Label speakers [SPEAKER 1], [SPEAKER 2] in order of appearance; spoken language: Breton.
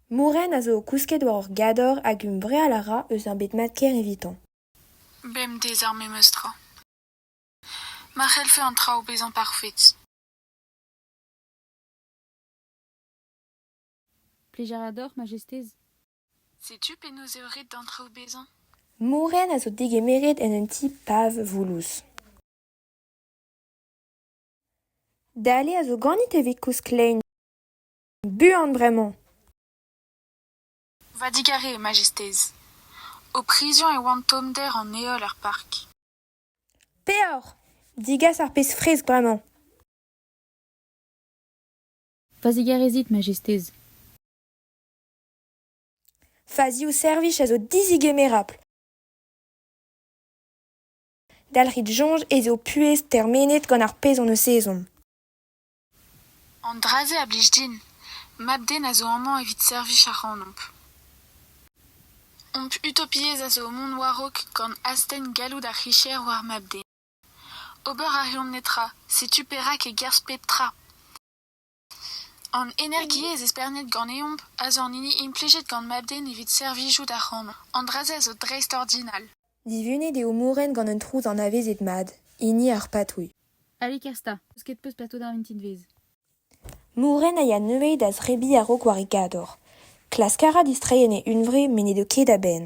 [SPEAKER 1] Mourren a zo o kousket war ur gador hag humbreal a ra eus ur bed mat-kaer evitañ. Bemdez ar memes tra. Ma c'hellfe an traoù bezañ parfet. Plijañ a dor, Majestez. Setu penaos eo ret d'an traoù bezañ. Mourren a zo degemeret en un ti pav voulouz. Dale a zo ganit evit koust klein. Buan bremañ. Va digare, Majestez. Ho prizion e oan tommder an heol er park. Peoc'h! Digas ar pezh fresk bremañ. Va zigarezit, Majestez. Va ziv-servij a zo dizigemerapl. Dalc'hit soñj ez eo puhez termenet gant ar pezh hon eus ezhomm. An dra-se a blij din. Mab-den a zo amañ evit servij ac'hanomp. Hom utopiezh a zo mont war-raok gant astenn galloud ar c'hicher war mab-den. Ober a reont netra, setu perak e-kerzh pep tra. An energiezh espernet ganeomp a zo an hini implijet gant mab-den evit servijout ac'hanomp. An dra-se a zo dreistordinal. Divunet eo Moren gant un trouz anavezet mat, hini ar patrouilh. Allez Kersta, 'peus ket peuz plato da vintin-vez ? Moren a ya neuze da zebriñ a-raok war e gador. Klask a ra distreiñ en e hunvre met n'edo ket a-benn.